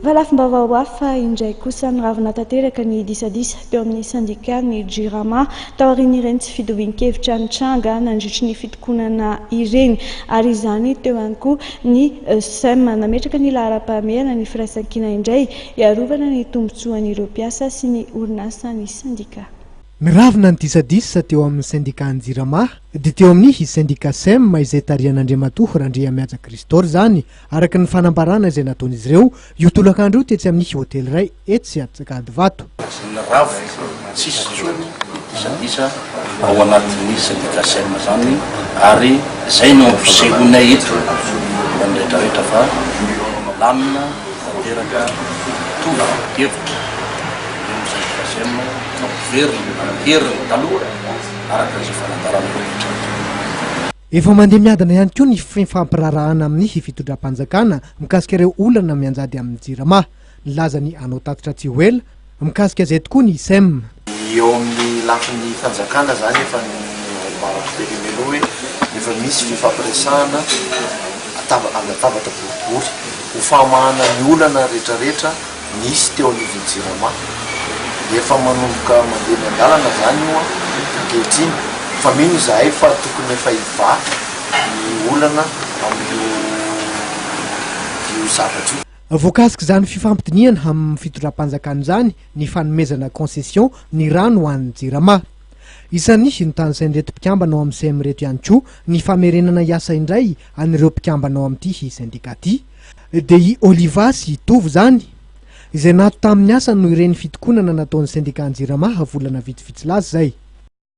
Fa lafim-baovao hafa indray kosa, niravona tanteraka ny disadisa teo amin'ny sendika ny Jirama, taorian'ireny tsy fitovian-kevitra nitranga nandritry ny fitokonana ireny. Ary izany teo ihany koa ny sem. Nametraka ny laharam-pahamehana ny firaisankina indray, hiarovana ny tombontsoan'ireo mpiasa sy ny orinasa ny sendika. Niravona ny disadisa teo amin'ny sendikan'ny Jirama, dia teo amin'ny sendika sem izay tarihan'Andriamatoa Randriamihaja Christor izany, Araka ny fanambarana izay nataon'izy ireo, io tolakandro io tetsy amin'ny hotely iray etsy Atsakadivato. Ny rafitra tsisy intsony ny disadisa ao anatin'ny sendika sem izany ary izay no ampisehoanay eto hitan'ny rehetrarehetra fa lamina tanteraka mitovy hevitra ireo sendika sem fa very ny heriny taloha araka izay fanambaran'ny rehetra. Efa mandeha miadana ihany koa ny fifampiraharahana amin'ny hifitondram-panjakana mikasika ireo olana mianjady amin'ny Jirama. Nilaza ny hanao tatitra tsy ho ela mikasika izay tokoa ny sem. Ny eo amin'ny lafiny fanjakana izany efa noambarako teny aloha hoe efa misy fifampiresahana andatabatra boribory ho fahamahana ny olana rehetrarehetra. nisy teo anivon'ny Jirama. Efa manomboka mandeha eny an-dalana izany io ankehitriny fa mino izahay fa tokony efa hivaky ny olana amin'io io zavatra io. Voakasik'izany fifampidinihana amin'ny fitondram-panjakana izany ny fanomezana concession ny rano ho an'ny Jirama. Isan'ny notanisain'ireto mpikambana ao amin'ny sem ireto ihany koa ny famerenana hiasa indray an'ireo mpikambana ao amin'ity sendika ity. Dia i Oliva sy i Tovo izany, izay nato tamin'ny asany noho ireny fitokonana nataon'ny Sendikà Jirama ha volana vitsivitsy lasa izay.